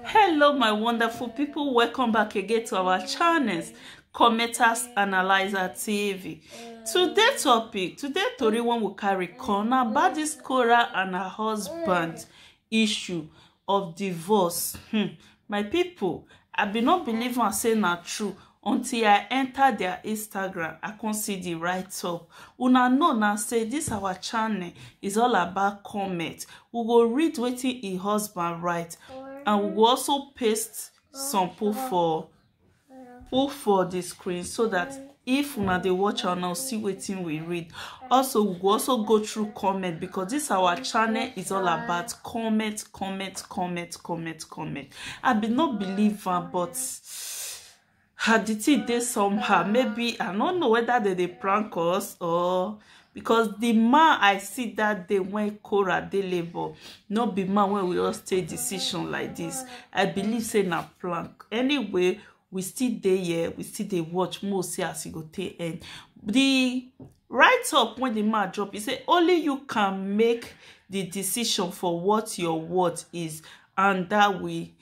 hello my wonderful people welcome back again to our channels commenters analyzer tv today topic today tori one will carry come na about this Cora and her husband issue of divorce hmm. my people i bin not believe am say na true until i enter their instagram i come see the write up una know now say this our channel is all about comment we go read wetin im husband write and we go also paste some put for put for the screen so that if una dey watch am now see wetin we read also we go also go through comment because this our channel is all about comment comment comment comment comment i bin no believe am but her the thing dey somehow maybe i no know whether they dey prank us or because the man i see that day when Cora dey labour no be man when we all stay decision like this i believe say na prank anyway we still dey here we still dey watch mo see as e go take end the write up when the man drop he say only you can make the decision for what your worth is and that way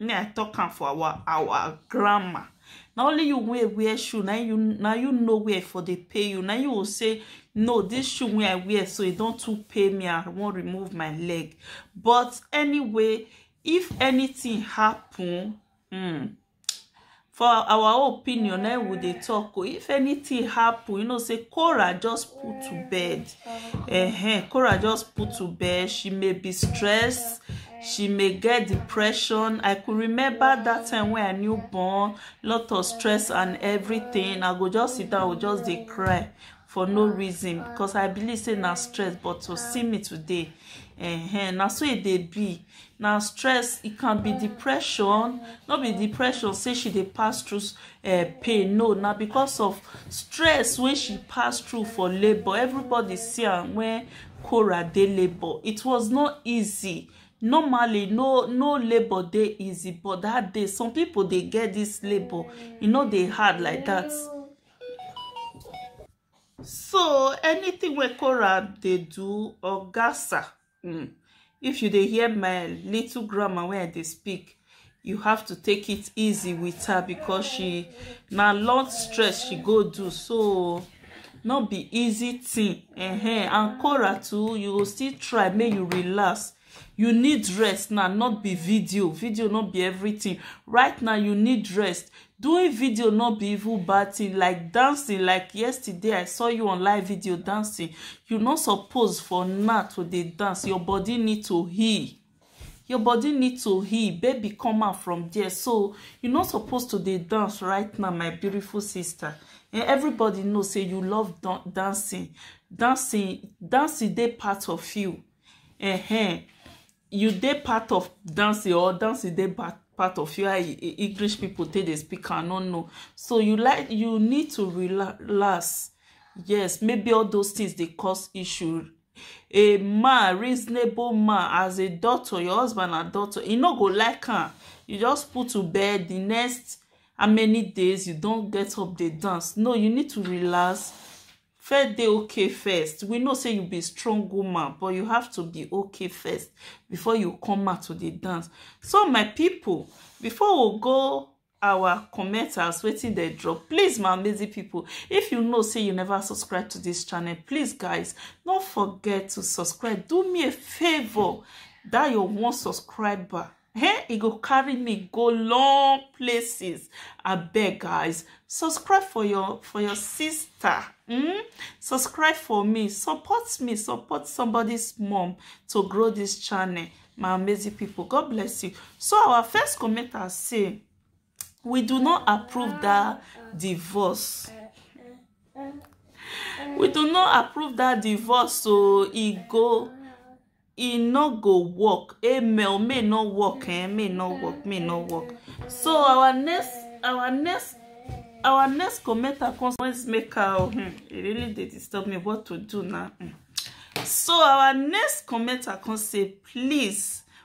me i talk am for our our grandma na only you wey wear shoe na you na you know where e for dey pay you na you go say no this shoe wey i wear so e don too pay me i wan remove my leg but anyway if anything happen hmm, for our opinion na we dey talk o if anything happen you know say cora just put to bed uh-huh. cora just put to bed she may be stressed she may get depression i could remember that time when i new born lot of stress and everything i go just sit down go just dey cry for no reason because i believe say na stress but to see me today uh-huh. na so e dey be na stress e can be depression no be depression say she dey pass through uh, pain no na because of stress wey she pass through for labour everybody see am when Cora dey labour it was not easy normally no no labour dey easy but that day some people dey get this labour e no dey hard like that so anything wey Korab dey do or gasa mm, if you dey hear my little grammar wey i dey speak you have to take it easy with her because she na long stress she go do so no be easy thing uh -huh. and Korah too you go still try make you relax you need rest now not be video video not be everything right now you need rest doing video not be even bad thing like dancing like yesterday i saw you on live video dancing you not suppose for now to dey dance your body need to heal your body need to heal baby come out from there so you not supposed to dey dance right now my beautiful sister and everybody know say you love dancing dancing dancing dey part of you uh-huh. you dey part of dancing or dancing dey part part of you english people take dey speak i no know so you like you need to relax yes maybe all those things dey cause issue a man reasonable man as a doctor your husband na doctor e no go like am you just put to bed the next how many days you don get up dey dance no you need to relax First dey okay first, we know say you be strong woman but you have to be okay first before you come out to dey dance. So my people, before we go our comment as wetin dey drop, please my amazing people, if you know say you never subscribe to this channel, please guys, no forget to subscribe, do me a favor, that your one subscriber Hey, e go carry me go long places. I beg guys, subscribe for your for your sister. Mm? Subscribe for me, support me, support somebody's mom to grow this channel. My amazing people, God bless you. So our first commenter say, we do not approve that divorce we do not approve that divorce so e go e no go work amen may no work eh may no work may no work so our next our next our next commenter comes always make her oh, hmm, e really dey disturb me what to do now hmm. so our next commenter come say please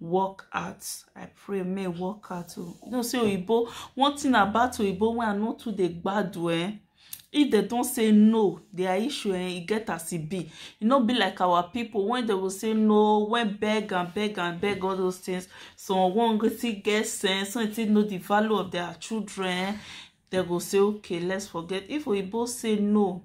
work out i pray may work out o you know say oyibo one thing about oyibo wey i no too dey gbadu eh if they don say no their issue eh e get as e be e no be like our people when they go say no when beg and beg and beg all those things some one go still get sense some still know the value of their children they go say okay let's forget if we both say no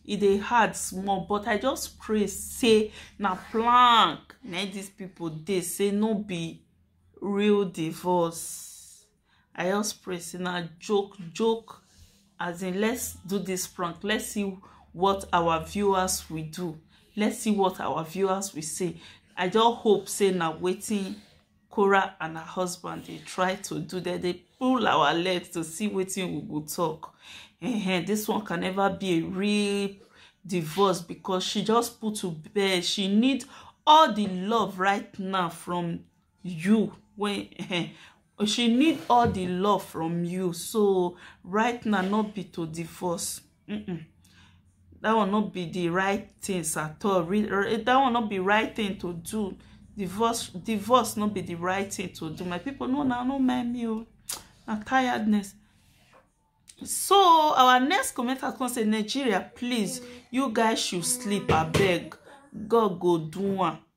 e dey hard small but i just pray say na plank na these people dey say no be real divorce i just pray say na joke joke as in let's do this prank let's see what our viewers will do let's see what our viewers will say i just hope say na wetin Kora and her husband dey try to do that. They pull our legs to see wetin we go talk. Uh-huh. This one can never be a real divorce because she just put to bed. She need all the love right now from you when uh-huh. Oh, she need all the love from you so right now not be to divorce mm -mm. that will not be the right things at all that will not be right thing to do divorce divorce not be the right thing to do my people no now no mind me oh na tiredness so our next comment has come say nigeria please you guys should sleep abeg god go do one